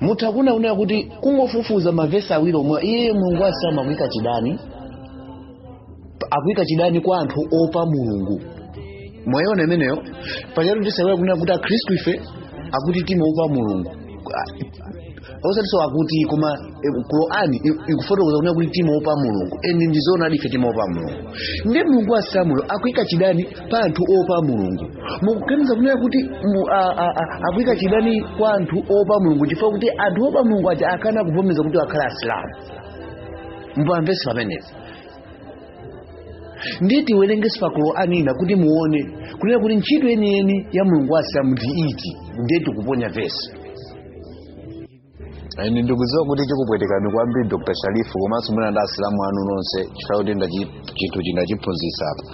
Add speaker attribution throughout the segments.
Speaker 1: mutha kuona kunena kuti kungofufuza mavesi awiri omwewo iyeyo mulungu asilamuyo kuika chidani akuika chidani kwa anthu oopa mulungu mwayiona imeneyo paja tu tisaiwale kunena kuti akhristu ife akuti timaoopa mulungu osatiso akuti koma eh, qurani i- ikufotokoza kunena kuti timaopa mulungu end ndizoonadi ife timaopa mulungu ndiye mulungu asilamuyo akuika chidani pa anthu oopa mulungu mukuganiza kunena kuti mu- a- a- a- akuika chidani kwa anthu oopa mulungu chifukwa kuti anthu oopa mulungu aja akana kuvomereza kuti akhale asilamu mukumvetsa pamenepa ndiye tiwerengeso pa qur'ani ina kuti muone kunena kuti ntchito yeniyeni ya mulungu wa asilamu ndi iti ndiye tikuponya vesi End ndikudziwa kuti chikupwetekani kwambiri dr sharifu komanso mwina ndi asilamu anu nonse chifukwa kuti ndachi chinthu cha ndachiphunzitsa apa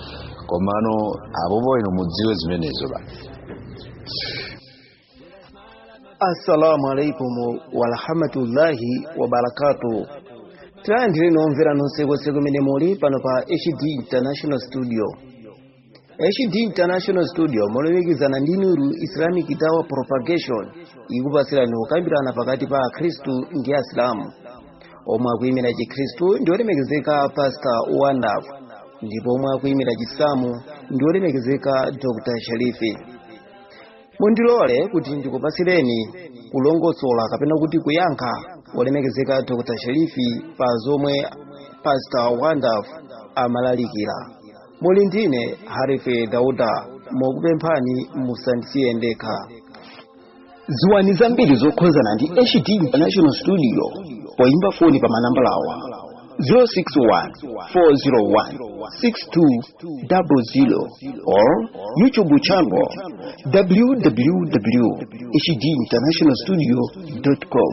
Speaker 1: komano apopo ino mudziwe zimenezo ba assalamu alaikum warahmatullahi wabarakatu tilandireni omvera nonse konse kumene muli pano pa hd international studio HD International Studio molumikizana ndi Nuru Islamic Dawah Propagation ikupatsirani kukambirana pakati pa Akhristu ndi Asilamu omwe akuimira Chikhristu ndi olemekezeka Pastor Wandaf ndipo omwe akuimira Chisilamu ndi olemekezeka Dr. Sharifi. Mundilole kuti ndikupatsireni kulongosola kapena kuti kuyankha olemekezeka Dr. Sharifi pa zomwe Pastor Wandaf amalalikira. muli ndine harife dauda mokupemphani musandisiye ndekha dziwani zambiri zokhuzana ndi hd international studio poyimba foni pa manambala awa 061-401-6200 or YouTube channel www.hdinternationalstudio.com.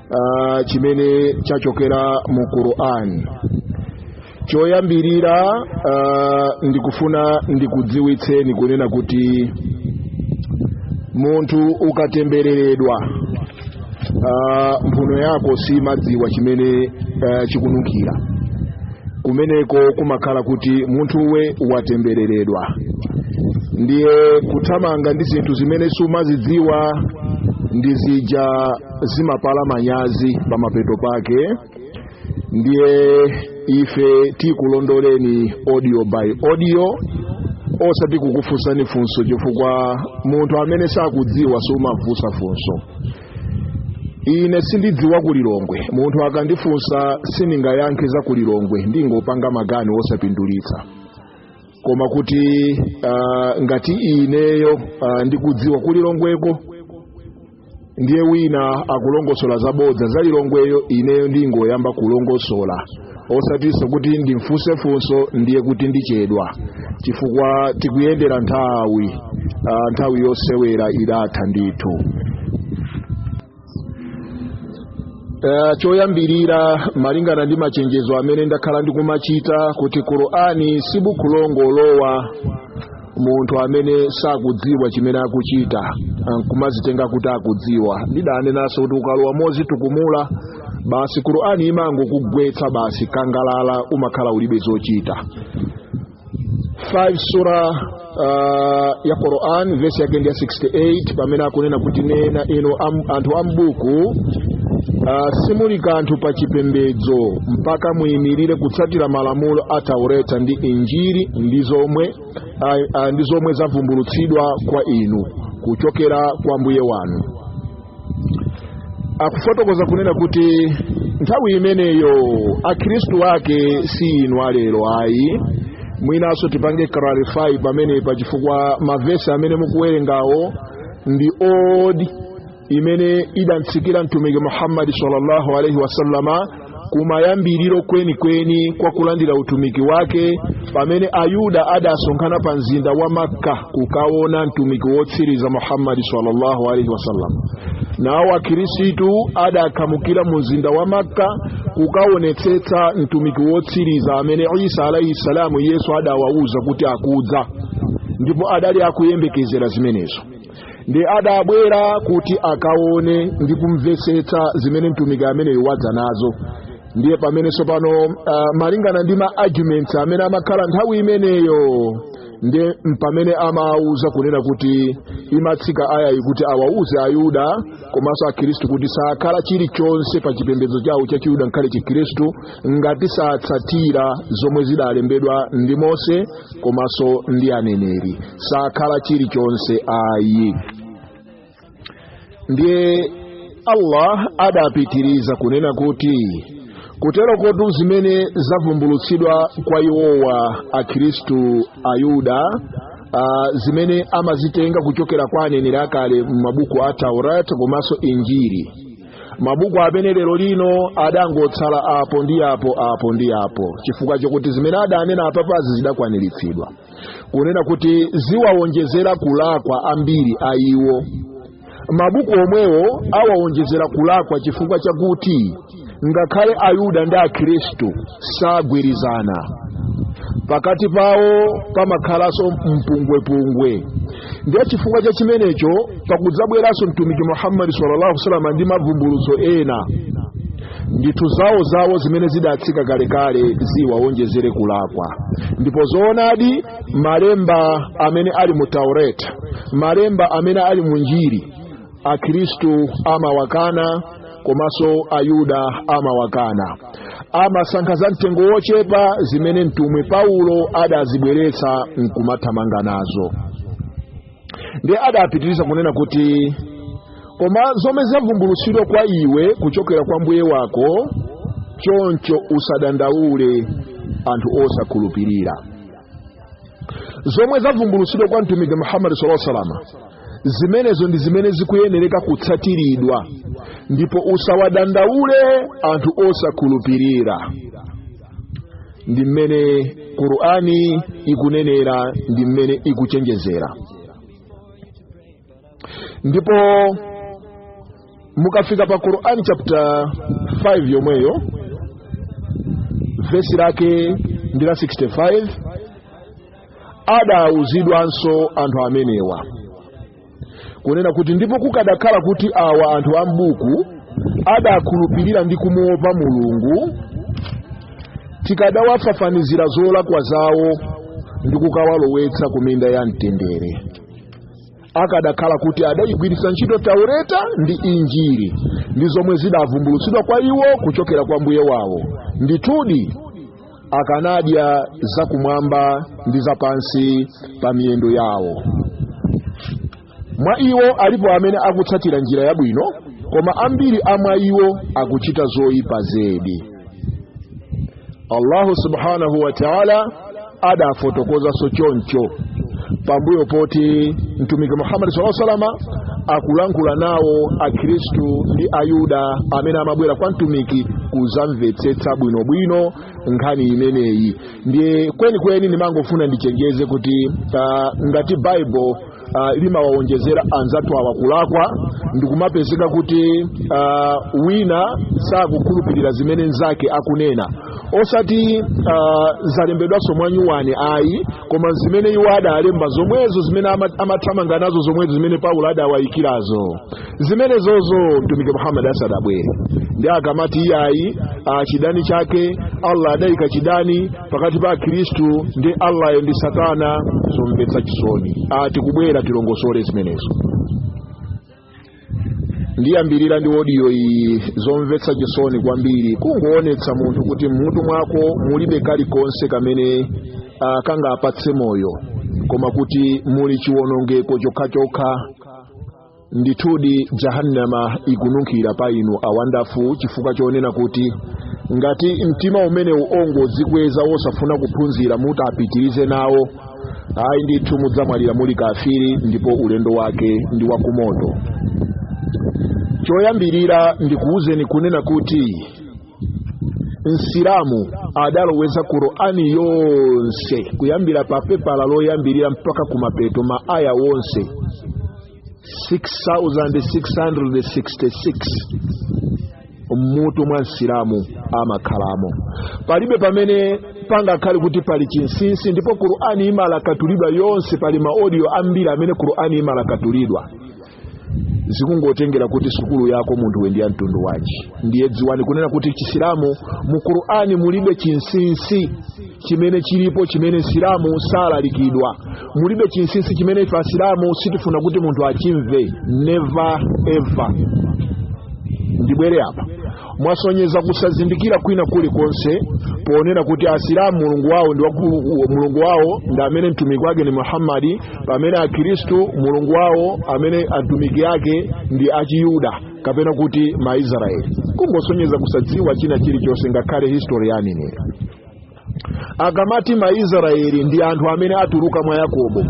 Speaker 1: uh, chimene chachokera mu qur'an choyambirira uh, ndikufuna ndikudziwitseni kunena kuti munthu ukatembereredwa uh, mphuno yako siimadziwa chimene uh, chikununkhira kumeneko kumakhala kuti munthuwe watembereredwa ndiye kuthamanga ndi zinthu zimene sumazidziwa ndi zija zimapala manyazi pamapeto pake ndiye ife tikulondoleni audio by audio osati kukufunsani funso chifukwa munthu amene sakudziwa sumamufunsa funso ine sindidziwa kulilongwe munthu akandifunsa sindingayankhe za kulilongwe ndingopanga magani osapindulitsa koma kuti uh, ngati ineyo uh, ndikudziwa kulilongweko ndiye wina akulongosola zabodza za lilongweyo ineyo ndingoyamba kulongosola osatinso kuti ndimfunse funso ndiye kuti ndichedwa chifukwa tikuyendera nthawi ah, nthawi yosewera idatha ndithu Eh, choyambirira malingana ndi machenjezo amene ndakhala ndikumachita kuti qur'ani si buku longolowa munthu amene sakudziwa chimene akuchita nkumazitenga kuti akudziwa ndidanenanso kuti ukalowa mozitukumula basi qur'ani imangokugwetsa basi kangalala umakhala ulibe zochita 5 sura uh, ya Quran vesi yake ndi ya 68 pamene akunena kuti nena inu a, anthu a m'buku uh, simuli kanthu pa chipembedzo mpaka muyimirire kutsatira malamulo a taureta ndi injiri ndi zomwe ndi zomwe zavumbulutsidwa kwa inu kuchokera kwa mbuye wanu akufotokoza kunena kuti nthawi imeneyo akhristu ake si inu a lero ayi mwinanso tipange clarify pamenepa chifukwa mavesi amene mukuwerengawo ndi old imene idamtsikira mtumiki muhammadi sallallahu alaihi wasallama kumayambiriro kwenikweni kwa kulandira utumiki wake pamene ayuda adasonkhana pa mzinda wa makka kukaona mtumiki wotsiriza muhammadi sallallahu alaihi wasallam nawo akhirisitu adakhamukira mu mzinda wa makka kukaonetsetsa mtumiki wotsiriza amene isa alaihi salamu yesu adawauza kuti akudza ndipo adali akuyembekezera zimenezo ndi adabwera kuti akaone ndi kumvetsetsa zimene mtumiki ameneyu wadza nazo ndiye pamene tsopano uh, malingana ndi ma arguments amene amakhala nthawi imeneyo ndiye mpamene amawauza kunena kuti imatsika aya iyi kuti awawuze ayuda komanso akhristu kuti sakhala chilichonse pa chipembedzo chawo cha chiyuda ngakhale chikhristu ngati satsatira zomwe zidalembedwa ndi mose komanso ndi aneneri sakhala chilichonse ayi ndiye allah adapitiriza kunena kuti kutero kotu zimene zavumbulutsidwa kwa iwowa akhristu ayuda uh, zimene amazitenga kuchokera kwa aneneri akale m'mabuku a taurat komanso injiri mabuku amene lero lino adangotsala apo ndi apo apo ndi apo chifukwa chokuti zimene adanena apapazi zidakwaniritsidwa kunena kuti ziwawonjezera kulakwa ambiri a iwo mabuku omwewo awawonjezera kulakwa chifukwa chakuti ngakhale ayuda ndi akhristu sagwirizana pakati pawo pamakhalanso mpungwepungwe ndiye chifukwa cha chimenecho pakudzabweranso mtumiki muhammadi sallallahu wa salama ndi mavumbulutso ena ndithu zawo zawo zimene zidatsika kalekale ziwawonjezere kulakwa ndipo zoonadi malemba amene ali mu taureta malemba amene ali mu injiri akhristu amawakana komanso ayuda amawakana amasankha za mtengo wochepa zimene mtumwi paulo adazibweretsa nkumathamanga nazo ndiye adapitiriza kunena kuti koma zomwe zavumbulutsidwa kwa iwe kuchokera kwa mbuye wako choncho usadandaule anthu osakhulupirira zomwe zavumbulutsidwa kwa mtumiki muhammadi sala salama zimenezo ndi zimene zikuyenereka kutsatidwa ndipo usawadandaule anthu osakhulupirira ndi mmene qur'ani ikunenera ndi mmene ikuchenjezera ndipo mukafika pa qurani chapter 5 yomweyo vesi lake ndi la 65 adauzidwanso anthu amenewa kunena kuti ndipo kukadakhala kuti awa anthu a m'buku adakhulupirira ndi kumuopa mulungu tikadawafafanizira zolakwa zawo ndi kukawalowetsa ku minda ya mtendere akadakhala kuti adayigwiritsa ntchito taureta ndi injiri ndi zomwe zidavumbulutsidwa kwa iwo kuchokera kwa mbuye wawo ndithudi akanadya zakumwamba ndi zapansi pa miyendo yawo mwa iwo alipo amene akutsatira njira yabwino koma ambiri a mwa iwo akuchita zoyipa zedi allahu subhanahu wa taala adafotokozanso choncho pambuyo poti mtumiki muhammadi saa salama akulankhula nawo akhristu ndi ayuda amene amabwera kwa mtumiki kuzamvetsetsa bwinobwino nkhani imeneyi ndiye kwenikweni ndimangofuna ndichenjeze kuti uh, ngati baibulo uh, limawawonjezera anzathu awa kulakwa ndikumapezeka kuti uh, wina sakukhulupirira zimene nzake akunena osati uh, zalembedwanso mwanyuwani ayi koma zimene iwo adalemba zomwezo zimene ama- amathamanga nazo zomwezo zimene paulo adawayikirazo zimenezozo mtumiki muhammad asadabwere ndiye akamati iyayi uh, chidani chake allah adayika chidani pakati pa akhristu ndi allah ndi satana zomvetsa chisoni atikubwera tilongosole zimenezo ndiyambirira ndi odiyo iyi zomvetsa chisoni kwambiri kukuonetsa munthu kuti mmutu mwako mulibe kalikonse kamene akangapatse moyo koma kuti muli chiwonongeko chokhachokha ndithudi jahannama ikununkhira pa inu awandafu chifukwa chonena kuti ngati mtima umenewu ongodzikweza wosafuna kuphunzira muti mupitirize nawo ayi ndithu mudzamwalira muli kafiri ndipo ulendo wake ndi wakumoto choyambirira ndikuwuzeni kunena kuti msilamu adaloweza qur'ani yonse kuyambira pa pepala loyambirira mpaka kumapeto ma aya wonse 6666 mmutu mwa msilamu amakhalamo palibe pamene pangakhale kuti pali chinsinsi ndipo qur'ani imalakatulidwa yonse pali maodiyo ambiri amene qur'ani imalakatulidwa zikungotengera kuti sukulu yako munthuwe ndi ya mtundu wanji ndiye dziwani kunena kuti chisilamu mu qur'ani mulibe chinsinsi chimene chilipo chimene msilamu salalikidwa mulibe chinsinsi chimene ife asilamu sitifuna kuti munthu achimve never ever ndibwere apa mwasonyeza kusazindikira kwina kulikonse ponena kuti asilamu mulungu wawo ndi waku- u- mulungu wawo ndi amene mtumiki wake ni muhammadi pamene akhristu mulungu wawo amene atumiki ake ndi achiyuda kapena kuti maisraeli kungosonyeza kusadziwa china chilichonse ngakhale history ya aneneri akamati maisraeli ndi anthu amene atuluka mwa yakobo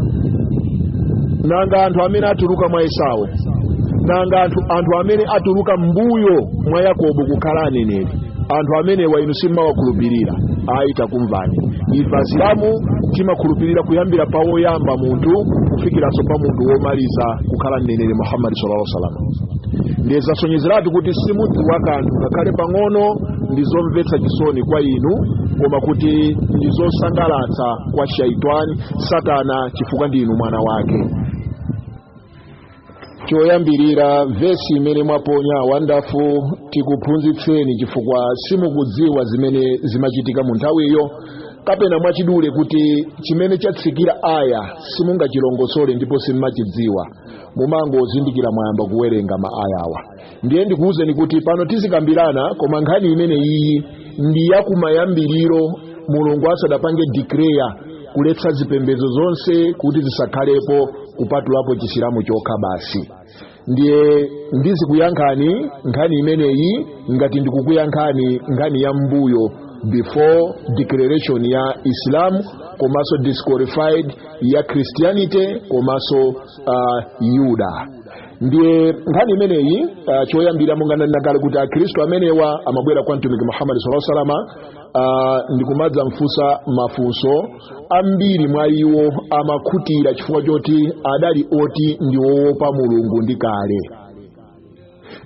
Speaker 1: nanga anthu amene atuluka mwa esau nanga anthu, anthu amene atuluka mmbuyo mwa yakobo kukhala aneneri anthu amenewa inu simawakhulupirira ayi takumvani ife asilamu timakhulupirira kuyambira pa woyamba munthu kufikiranso pa munthu womaliza kukhala mneneri muhammadi sallallahu alaihi wasallam ndiye zasonyezeratu kuti simudziwa kanthu ngakhale pang'ono ndi zomvetsa chisoni kwa inu koma kuti ndi zosangalatsa kwa shaitani satana chifukwa ndi inu mwana wake choyambirira vesi imene mwaponya wandafu tikuphunzitseni chifukwa simukudziwa zimene zimachitika mu nthawiyo kapena mwachidule kuti chimene chatsikira aya simungachilongosole ndipo simumachidziwa mumangozindikira mwayamba kuwerenga ma ayawa ndiye ndikuwuzeni kuti pano tizikambirana koma nkhani imene iyi ndi yakumayambiriro mulungu asadapange declare kuletsa zipembedzo zonse kuti zisakhalepo kupatulapo chisilamu chokha basi ndiye ndizikuyankhani nkhani imeneyi ngati ndikukuyankhani nkhani ya mbuyo before declaration ya islam komanso disqualify ya christianity komanso uh, yuda ndiye nkhani imeneyi uh, choyambira monga ndinanena kale kuti akhristu amenewa amabwera kwa mtumiki muhammadi sala salama uh, ndikumadzamfunsa mafunso ambiri mwa iwo amakhutira chifukwa choti adali oti ndi wowopa mulungu ndi kale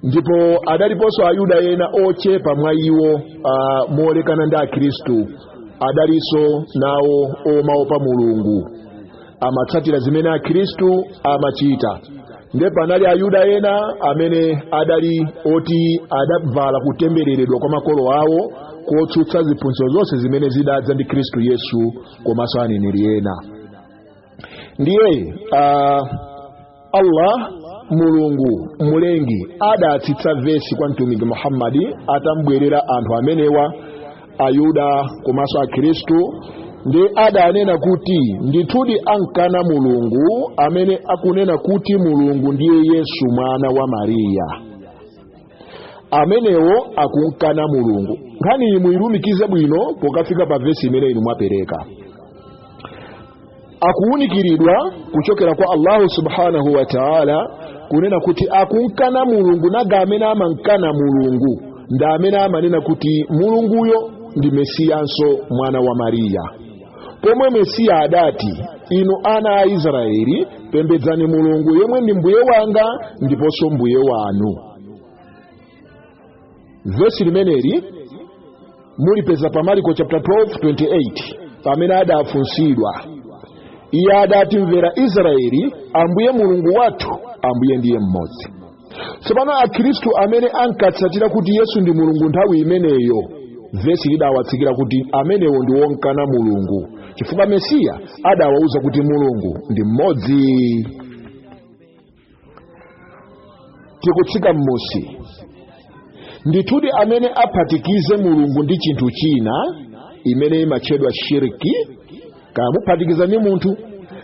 Speaker 1: ndipo adaliponso ayuda ena ochepa mwa iwo uh, mowerengeka ndi akhristu adalinso nawo omaopa mulungu amatsatira zimene akhristu amachita nde panali ayuda ena amene adali oti adavala kutembereredwa kwa makolo awo kotsutsa ziphunzitso zonse zimene zidadza ndi khristu yesu komanso aneneri ena ndiye uh, allah mulungu mlengi adatsitsa vesi kwa mtumiki muhammadi atamubwerera anthu amenewa ayuda komanso akhristu ndi adanena kuti ndithudi ankana mulungu amene akunena kuti mulungu ndiye yesu mwana wa mariya amenewo akumkana mulungu nkhani iyi muyilumikize bwino pokafika pa vesi imene inu mwapereka akuwunikiridwa kuchokera kwa allahu subhanahu wa taala kunena kuti akunkana mulungu nanga amene amankana mulungu ndi amene amanena kuti mulunguyo ndi mesiyanso mwana wa mariya pomwe mesiya adati inu ana a israeli pembedzani mulungu yemwe ndi mbuye wanga ndiponso mbuye wanu vesi limeneli mulipeza pa mariko chapter 12:28 pamene adafunsidwa iye adati mvera israeli ambuye mulungu wathu ambuye ndiye mmodzi tsopano akhristu amene ankatsatira kuti yesu ndi mulungu nthawi imeneyo vesi lidawatsikira kuti amenewo ndi wonkana mulungu chifukwa mesiya adawauza kuti mulungu ndi mmodzi tikutsika m'musi ndithudi amene aphatikize mulungu ndi chinthu china imene imatchedwa shiriki kaya muphatikiza ndi munthu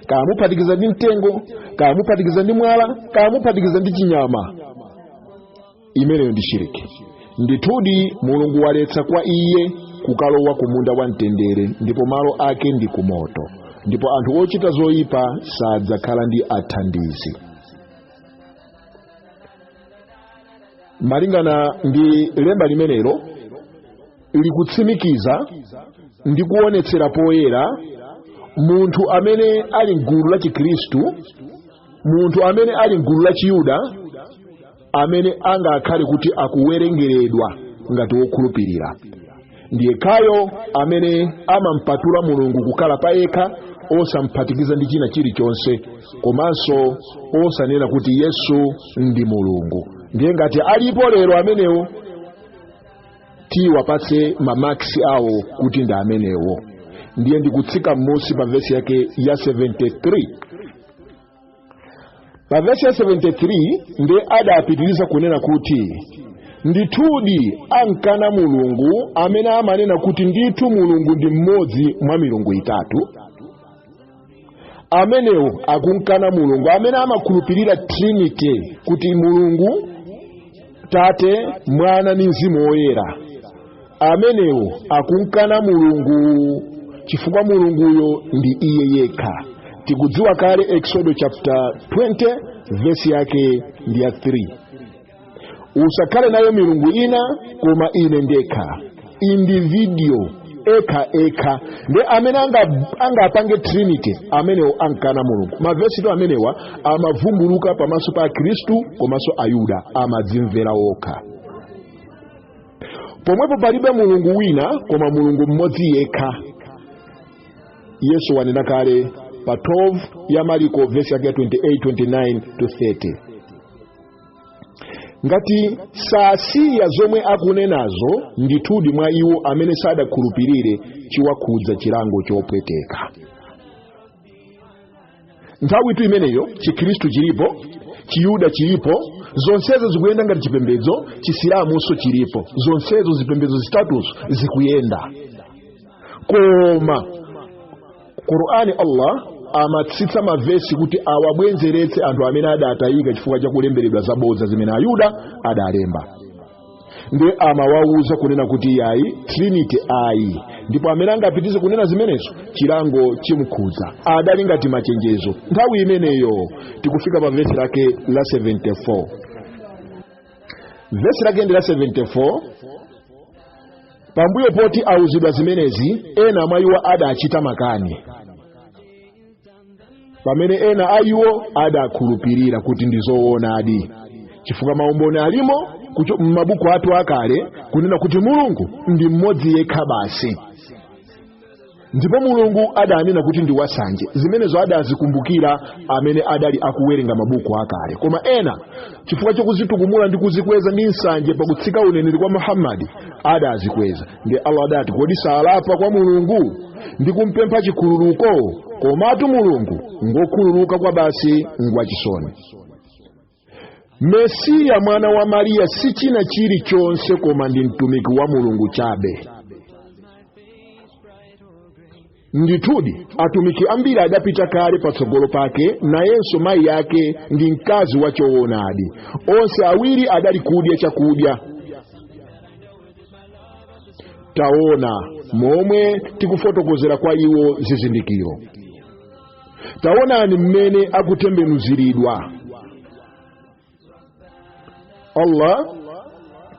Speaker 1: kaya muphatikiza ndi mtengo kaya muphatikiza ndi mwala kaya muphatikiza ndi chinyama imeneyo ndi shiriki ndithudi mulungu waletsa kwa iye kukalowa ku munda wa mtendere ndipo malo ake ndi ku moto ndipo anthu ochita zoyipa sadzakhala ndi athandizi malingana ndi lemba limenelo likutsimikiza ndi kuonetsera poyera munthu amene ali mgulu la chikhristu munthu amene ali mgulu la chiyuda amene angakhale kuti akuwerengeredwa ngati wokhulupirira ndi yekhayo amene amampatula mulungu kukhala pa yekha osamphatikiza ndi china chilichonse komanso osanena kuti yesu ndi mulungu ndiye ngati alipo lero amenewo tiwapatse mamaksi awo kuti ndi amenewo ndiye ndikutsika m'munsi pa vesi yake ya 73 pa vesi ya 73 nde adapitiriza kunena kuti ndithudi ankana mulungu amene amanena kuti ndithu mulungu ndi mmodzi mwa milungu itatu amenewo akunkana mulungu amene amakhulupirira trinity kuti mulungu tate mwana ndi mzimu woyera amenewo akunkana mulungu chifukwa mulunguyo ndi iye yekha tikudziwa kale eksodo chapter 20 vesi yake ndi ya 3 usakhale nayo milungu ina koma ine ndekha individio ekha ekha nde amene anga- angapange trinity amenewo ankana mulungu mavesitu amenewa amavumbuluka pamaso pa akristu komanso ayuda amadzimvera okha pomwepo palibe mulungu wina koma mulungu mmodzi yekha yesu wanena kale pa 12 ya mariko vesi yake ya 28 29 to 30 ngati sasiya zomwe akunenazo ndithudi mwa iwo amene sadakhulupirire chiwakhudza chilango chopweteka nthawitu imeneyo chikhristu chilipo chiyuda chilipo zonsezo zikuyenda ngati chipembedzo chisilamunso chilipo zonsezo zipembedzo zitatuzo zikuyenda koma qur'ani allah amatsitsa mavesi kuti awabwenzeretse anthu amene adatayika chifukwa cha kulemberedwa zabodza zimene ayuda adalemba ndiye amawawuza kunena kuti yayi trinity ayi ndipo amene angapitirize kunena zimenezo chilango chimkhudza adali ngati machenjezo nthawi imeneyo tikufika pa vesi lake la 74 vesi lake ndi la 74 pambuyo poti awuzidwa zimenezi ena mwa iwo adachita makani pamene ena a iwo adakhulupirira kuti ndi zoonadi chifukwa maumboni alimo m'mabuku athu akale kunena kuti mulungu ndi mmodzi yekha basi ndipo mulungu adanena kuti ndi wasanje zimenezo adazikumbukira amene adali akuwerenga mabuku akale koma ena chifukwa chokuzitukumula ndi kuzikweza ndi nsanje pakutsika uneneri kwa muhammadi adazikweza ndi allah adati kodi salapa kwa mulungu ndi kumpempha chikhululuko komatu mulungu ngokhululuka kwabasi ngwachisoni mesiya mwana wa mariya si china chilichonse koma ndi mtumiki wa mulungu chabe ndithudi atumiki ambiri adapita kale patsogolo pake nayenso mayi yake ndi mkazi wa choonadi onse awiri adali kudya chakudya taona momwe tikufotokozera kwa iwo zizindikiro taonani mmene akutembenuziridwa allah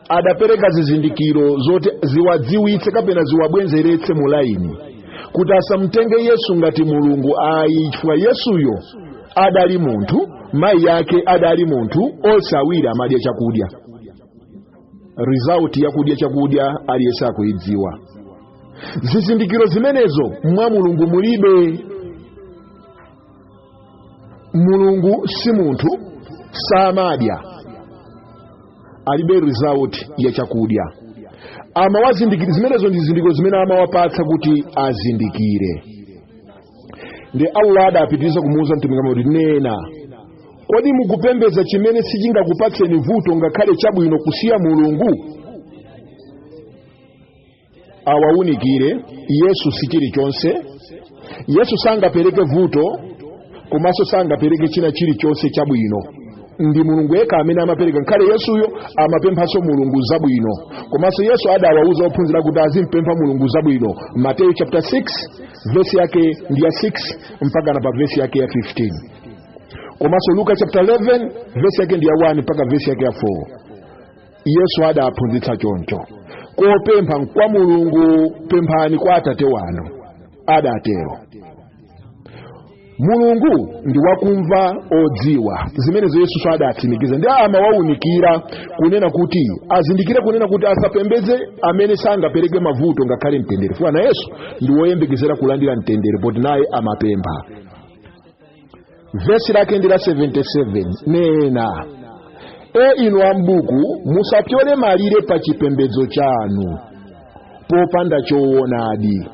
Speaker 1: adapereka zizindikiro zoti ziwadziwitse kapena ziwabwenzeretse mu laini kuti asamtenge yesu ngati mulungu ayi fukwa yesuyo adali munthu mayi yake adali munthu onse awiri amadya chakudya result yakudya chakudya aliyense akuyidziwa zizindikiro zimenezo mwa mulungu mulibe mulungu si munthu samadya alibe result ya chakudya amawazindikira zimenezo ndi zindikiro zimene amawapatsa kuti azindikire ndi allah adapitiriza kumuwuza mtumiki muhammadi nena kodi mukupembedza chimene sichingakupatseni vuto ngakhale chabwino kusiya mulungu awaunikire yesu si chilichonse yesu sangapereke vuto komanso sangapereke china chilichonse chabwino ndi mulungu yekha amene amapereka nkhaletu yesuyo amapemphanso mulungu zabwino komanso yesu adawauza ophunzira kuti azimpempha mulungu zabwino mateyu chapter 6 vesi yake ndi ya 6 mpaka na pa vesi yake ya 15 komanso luka chapter 11 vesi yake ndi ya 1 mpaka vesi yake ya 4 yesu adaphunzitsa choncho kopempha nkwa mulungu pemphani kwa atate wanu adatero mulungu ndi wakumva odziwa zimenezo yesunso adatsimikiza ndi amawaunikira kunena kuti azindikire kunena kuti asapembeze amene sangapereke mavuto ngakhale mtendere fukwa naye yesu ndi woyembekezera kulandira mtendere poti naye amapempha vesi lake ndi la 77 nena e inu ambuku musapyole malire pa chipembedzo chanu popanda choonadi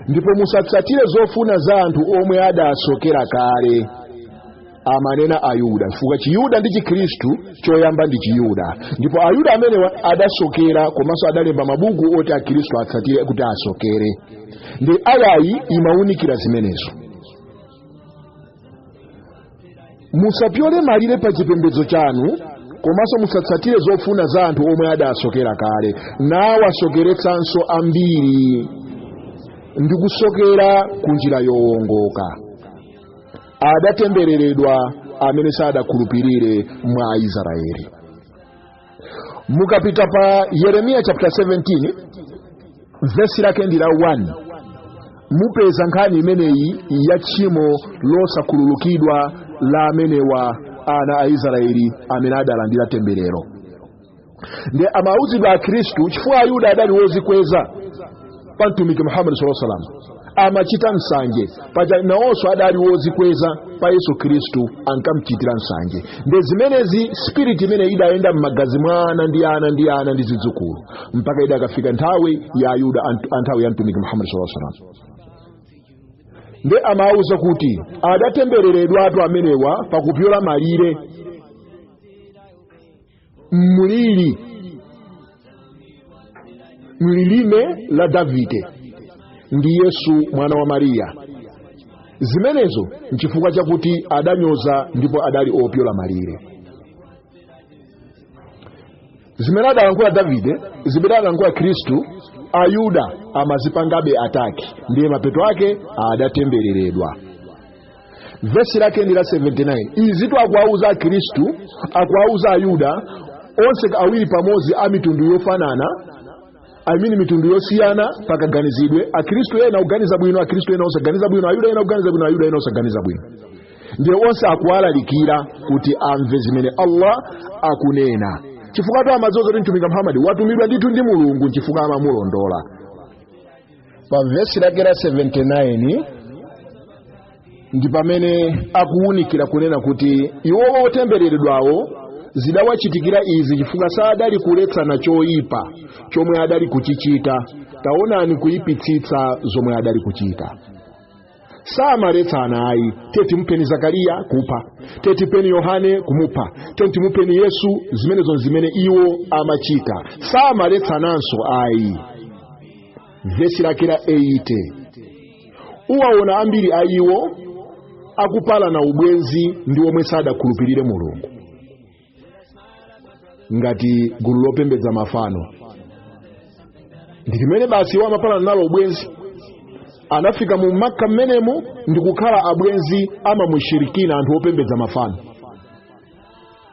Speaker 1: ndipo musatsatire zofuna za anthu omwe adasokera kale amanena ayuda chifukwa chiyuda ndi chikhristu choyamba ndi chiyuda ndipo ayuda amenewa adasokera komanso adalemba mabuku oti akhristu atsatire kuti asokere ndiye ayayi imawunikira zimenezo musapyole malire pa chipembedzo chanu komanso musatsatire zofuna za anthu omwe adasokera kale nawasokeretsanso ambiri ndi kusokera ku njira yowongoka adatembereredwa amene sadakhulupirire mwa aisraeli mukapita pa yeremiya chapter 17 vesi lake ndi la 1 mupeza nkhani imeneyi ya tchimo losakhululukidwa la amenewa ana a israeli amene adalandira temberero ndiye amauzidwa akhristu chifukwa ayuda adali wozikweza pa mtumiki muhammad saw salam amachita nsanje paja nawonso adali wozikweza pa yesu khristu ankamchitira nsanje nde zimenezi spiriti imene idayenda m'magazi mwa ana ndi ana ndi ana ndi zidzukulu mpaka idakafika nthawi ya ayuda ant- a nthawi ya mtumiki muhammad saw salam nde amawuza kuti adatembereredwatu amenewa pakupyola malire mlili mlilime la davide ndi yesu mwana wa mariya zimenezo nchifukwa chakuti adanyoza ndipo adali opyola malire zimene adalankhula davide zimene adalankhula khristu ayuda amazipangabe attack ndiye mapeto ake adatembereredwa vesi lake ndi la 79 izitu akuwauza akhristu akuwauza ayuda onse awiri pamodzi a mitundu yofanana I mean mitundu yosiyana pakaganizidwe akhristu ena oganiza bwino akhristu ena osaganiza bwino ayuda ena oganiza bwino ayuda ena osaganiza bwino ndiye onse akuwalalikira kuti amve zimene allah akunena chifukwa tu amadziwa kuti mtumiki muhammadi watumidwa ndithu ndi mulungu nchifukwa amamulondola pa vesi lake la 79 ndi pamene akuwunikira kunena kuti iwowo otembereredwawo zidawachitikira izi chifukwa sadali kuletsana choyipa chomwe adali kuchichita taonani kuyipitsitsa zomwe adali kuchita samaletsana ayi teti mupheni zakariya kupha teti mupheni yohane kumupha teti mupheni yesu zimenezo ndi zimene iwo amachita samaletsananso ayi vesi lake la 80 uwaona ambiri a iwo akupalana ubwenzi ndi omwe sadakhulupirire mulungu ngati gulu lopembedza mafano ndi limene basi iwo amapalana nalo ubwenzi anafika mu makka mmenemo ndi kukhala abwenzi a mamushirikina anthu opembedza mafano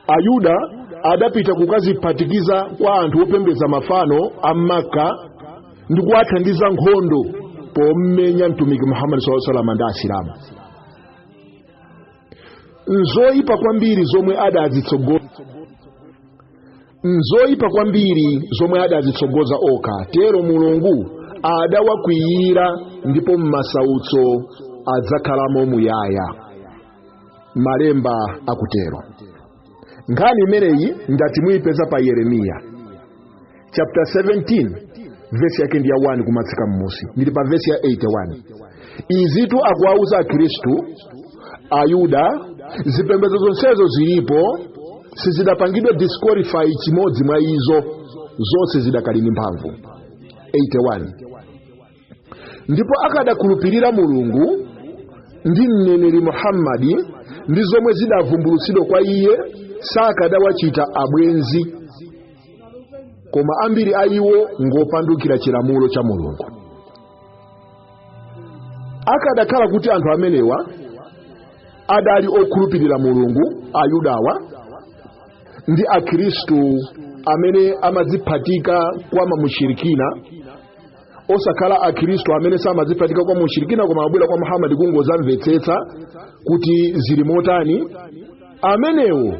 Speaker 1: ayuda adapita kukadziphatikiza kwa anthu opembedza mafano a makka ndi kuwathandiza nkhondo pomenya mtumiki muhammadi saa salama ndi asilamu nzoyipa kwambiri zomwe adadzitsogoza nzoyipa kwambiri zomwe adadzitsogoza okha tero mulungu adawakwiyira ndipo m'masautso adzakhalamo muyaya malemba akutero nkhani imeneyi ndati muyipeza pa yeremiya chapter 17 vesi yake ndi ya 1 kumatsika mmusi ndili pa vesi ya 81 izitu akuwauza akhristu ayuda zipembedzo zonsezo zilipo sizidapangidwe disqualify chimodzi mwa izo zonse zidakali ndi mphamvu 81 ndipo akadakhulupirira mulungu ndi mneneri muhammadi ndi zomwe zidavumbulutsidwa kwa iye sakadawachita abwenzi koma ambiri a iwo ngopandukira chilamulo cha mulungu akadakhala kuti anthu amenewa adali okhulupirira mulungu ayudawa ndi akhristu amene amadziphatika kwa mamushirikina osakhala akhristu amene samadziphatika kwa mushirikina koma abwera kwa muhammadi kungodzamvetsetsa kuti zili motani amenewo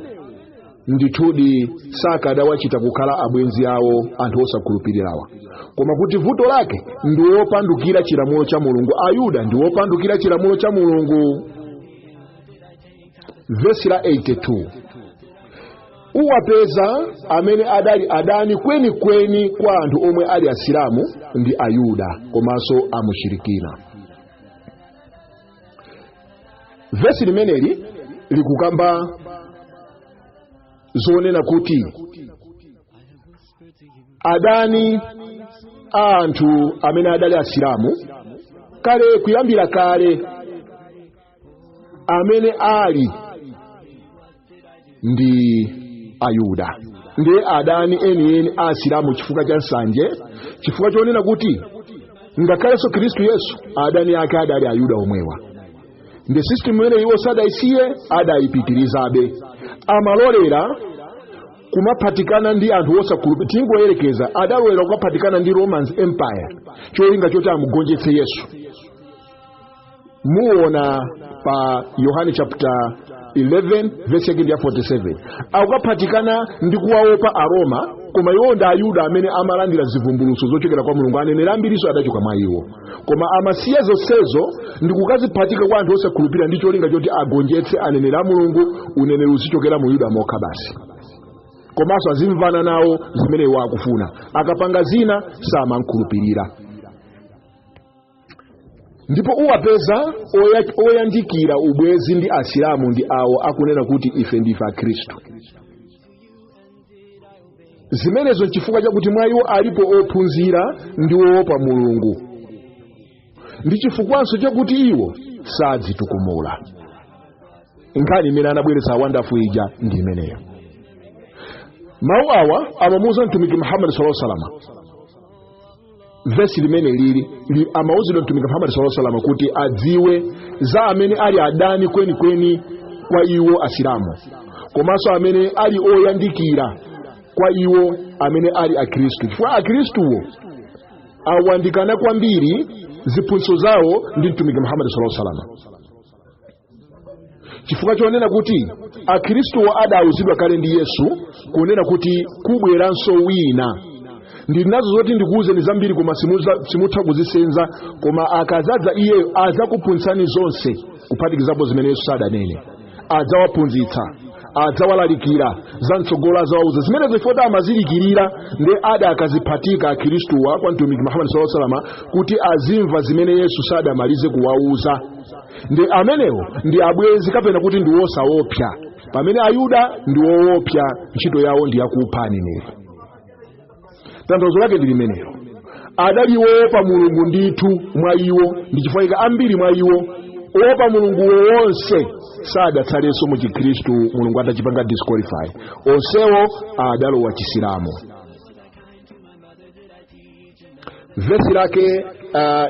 Speaker 1: ndithudi sakadawachita kukhala abwenzi awo anthu osakhulupirirawa koma kuti vuto lake ndi wopandukira chilamulo cha mulungu ayuda ndi wopandukira chilamulo cha mulungu vesi la 82 uwapeza amene adali adani kwenikweni kwa anthu omwe ali asilamu ndi ayuda komanso amushirikina vesi limeneli likukamba zonena kuti adani a anthu amene adali asilamu kale kuyambira kale amene ali ndi ayuda ndiye adani enieni a asilamu chifukwa cha nsanje chifukwa chonena kuti ngakhalenso khristu yesu adani ake adali ayuda omwewa ndiye system imene iwo sadayisiye adayipitirizabe amalolera kumaphatikana ndi anthu osakhulupirira tingoyerekeza adalolera kumaphatikana ndi roman empire cholinga choti amugonjetse yesu muona pa yohane chapter 11 vesi yake ndi ya 47 akukaphatikana ndi kuwaopa aroma koma iwo ndi ayuda amene amalandira zivumbulutso zochokera kwa mulungu aneneri ambirinso adachoka mwa iwo koma amasiya zonsezo ndi kukaziphatika kwa anthu osakhulupirira ndi cholinga choti agonjetse aneneri a mulungu uneneri uzichokera mu yuda mokha basi komanso azimvana nawo zimene iwo akufuna akapanga zina samamukhulupirira ndipo uwapeza oyandikira ubwezi ndi asilamu ndi awo akunena kuti ife ndife akhristu zimenezo nchifukwa chakuti mwa iwo alipo ophunzira ndi oopa mulungu ndi chifukwanso chakuti iwo sadzitukumula nkhani imene anabweretsa wandafu ija ndi imeneyo mawu awa amamuuza mtumiki muhammadi salaa salama vesi limene lili amauzidwa mtumiki muhammad saa salama kuti adziwe za amene ali adani kwenikweni kwa iwo asilamu komanso amene ali oyandikira kwa iwo amene ali akhristu chifukwa akhristuwo ayandikana kwambiri ziphunzitso zawo ndi mtumiki muhammad saa salama chifukwa chonena kuti akhristuwo adauzidwa kale ndi yesu kunena kuti kubweranso wina ndili nazo zoti ndikuwuzeni zambiri koma simutha kuzisenza koma akadzadza iyeyo adzakuphunzitsani zonse kuphatikizapo zimene yesu sadanene adzawaphunzitsa adzawalalikira za mtsogolo adzawauza zimenezo ifoti amazidikirira ndi adakadziphatika akhristuwa kwa mtumiki muhammad saa salama kuti azimva zimene yesu sadamalize kuwauza ndi amenewo ndi abwenzi kapena kuti ndi wosaopsa pamene ayuda ndi woopsa ntchito yawo ndi yakupha aneneri tanthauzo lake ndi limenelo adali woopa mulungu ndithu mwa iwo ndi chifukwa chake ambiri mwa iwo owopa mulunguwo onse sadatsalenso mu chikhristu mulungu atachipanga disqualify onsewo adalowa chisilamu vesi lake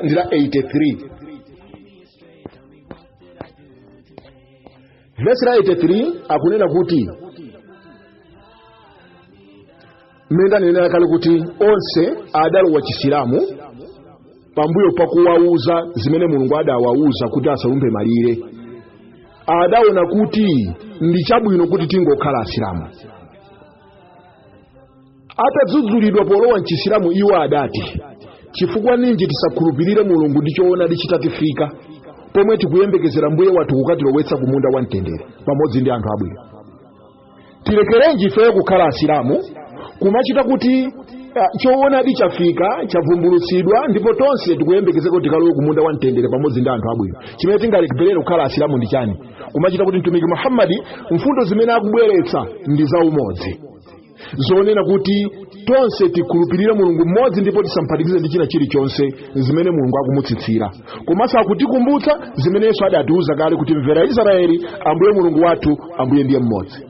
Speaker 1: ndi la 83 vesi la 83 akunena kuti mmene ndanenera kale kuti onse adalowa chisilamu pambuyo pakuwauza zimene mulungu adawauza kuti asalumphe malire adaona kuti ndi chabwino kuti tingokhala asilamu atadzudzulidwa polowa mchisilamu iwo adati chifukwa ninji tisakhulupirire mulungu ndi choonadi chitatifika pomwe tikuyembekezera mbuye wathu kukatilowetsa ku munda wa mtendere pamodzi ndi anthu abwino tilekerenji ifeyo kukhala asilamu kumachita kuti ah, choonadi chafika chavumbulutsidwa ndipo tonse tikuyembekezeka kuti tikalowe ku munda wa mtendere pamodzi ndi anthu abwino chimene tingalekerere kukhala asilamu ndi chani kumachita kuti mtumiki muhammadi mfundo zimene akubweretsa ndi za umodzi zonena kuti tonse tikhulupirire mulungu mmodzi ndipo tisamphatikize ndi china chilichonse zimene mulungu akumutsitsira komanso akutikumbutsa zimene yesu adatiuza kale kuti mvera israeli ambuye mulungu wathu ambuye ndiye mmodzi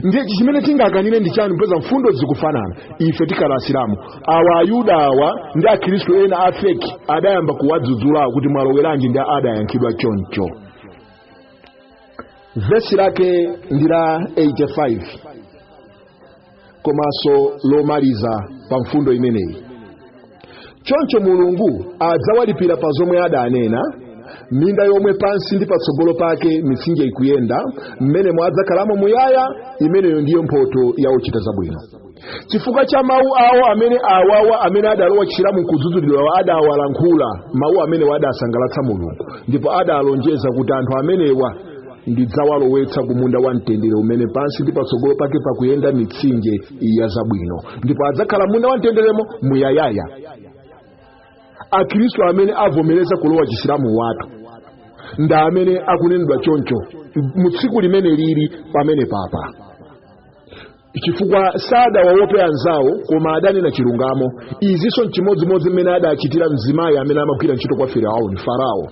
Speaker 1: ndiye chimene tingakanire ndi chani popeza mfundo zikufanana ife tikhala asilamu awa ayuda awa ndi akhristu ena a feki adayamba kuwadzudzulawo kuti mwaloweranji ndi adayankhidwa choncho vesi lake ndi la 85 komanso lomaliza pa mfundo imeneyi choncho mulungu adzawalipira pa zomwe adanena minda yomwe pansi ndi patsogolo pake mitsinje ikuyenda mmenemo adzakhalamo muyaya imeneyo ndiyo mphoto ya ochita zabwino chifukwa cha mawu awo amene awawa amene adalowa chisilamu nkudzudzulidwawa adawalankhula mawu amenewa adasangalatsa mulungu ndipo adalonjeza kuti anthu amenewa ndidzawalowetsa ku munda wa mtendere umene pansi ndi patsogolo pake pakuyenda mitsinje ya zabwino ndipo adzakhala munda wa mtenderemo muyayaya akristu amene avomereza kulowa chisilamu awatu ndi amene akunenedwa choncho mu tsiku limene lili pamene papa chifukwa sadawaope anzawo koma adanena chilungamo izinso nchimodzimodzi mmene adachitira mzimayi amene amagwira ntchito kwa firauni farao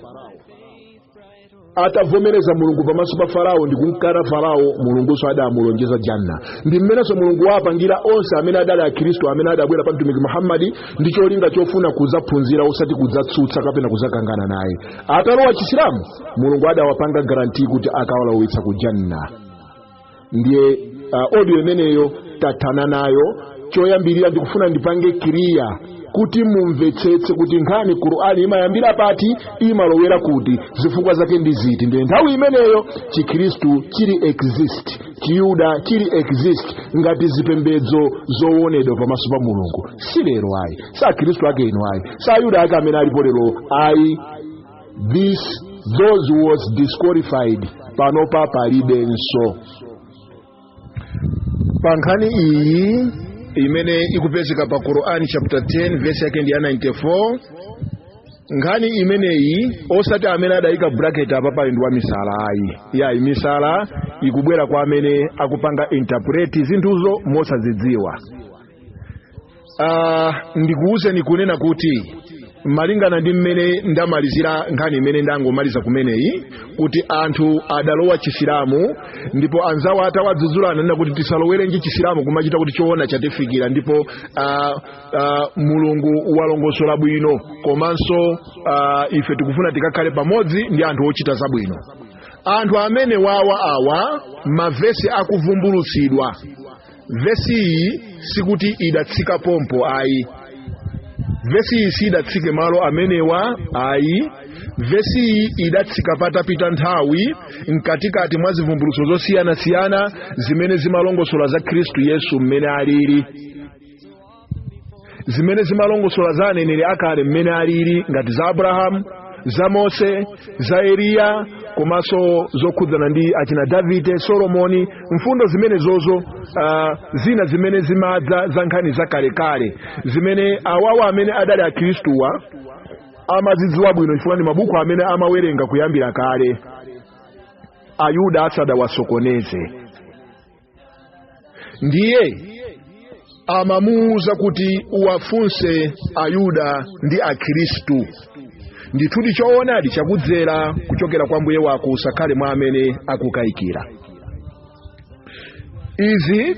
Speaker 1: atavomereza mulungu pamaso pa farao ndi kumkana farao mulungunso adamulonjeza janna ndi mmenenso mulungu wapangira onse amene adali akhristu amene adabwera pa mtumiki muhammadi ndi cholinga chofuna kudzaphunzira osati kudzatsutsa kapena kudzakangana naye atalowa chisilamu mulungu adawapanga garanti kuti akawalowetsa ku janna ndiye uh, audio imeneyo tathana nayo choyambirira ndikufuna ndipange kiriya kuti mumvetsetse kuti nkhani ya qur'ani imayambira pati imalowera kuti zifukwa zake ndi ziti ndiye nthawi imeneyo chikhristu chili exist chiyuda chili exist ngati zipembedzo zowonedwa pamaso pa mulungu si lero ayi si akhristu ake ano ayi si ayuda ake amene alipo lero ayi this those who was disqualified panopa palibenso pa nkhani iyi imene ikupezeka pa qurani chapter 10 verse yake ndi ya 94 nkhani imeneyi osati amene adayika bracket apa pali ndi wamisala ayi yayi misala ikubwera kwa amene akupanga interpret zinthuzo mosazidziwa Ah, ndikuwuzeni kunena kuti malingana ndi mmene ndamalizira nkhani imene ndangomaliza kumeneyi kuti anthu adalowa chisilamu ndipo anzawo atawadzudzula ananena kuti tisalowerenji chisilamu kumachitika kuti choona chatifikira ndipo ah, ah, mulungu walongosola bwino komanso ah, ife tikufuna tikakhale pamodzi ndi anthu ochita zabwino anthu amene wawa awa mavesi akuvumbulutsidwa vesi iyi sikuti idatsika pompo ayi vesi iyi sidatsike malo amenewa ayi vesi iyi idatsika patapita nthawi mkatikati mwa zivumbulutso zosiyanasiyana zimene zimalongosola za khristu yesu mmene alili zimene zimalongosola za aneneri akale mmene alili ngati za abrahamu za mose za eliya komanso zokhudzana ndi achina davide solomoni mfundo zimenezozo uh, zina zimene zimadza za nkhani zakalekale zimene awawa amene adali akhristuwa amazidziwa bwino chifukwa ndi mabuku amene amawerenga kuyambira kale ayuda asadawasokoneze ndiye amamuwuza kuti uwafunse ayuda ndi akhristu ndithudi choonadi chakudzera kuchokera kwa mbuye wako usakhale mwa amene akukayikira izi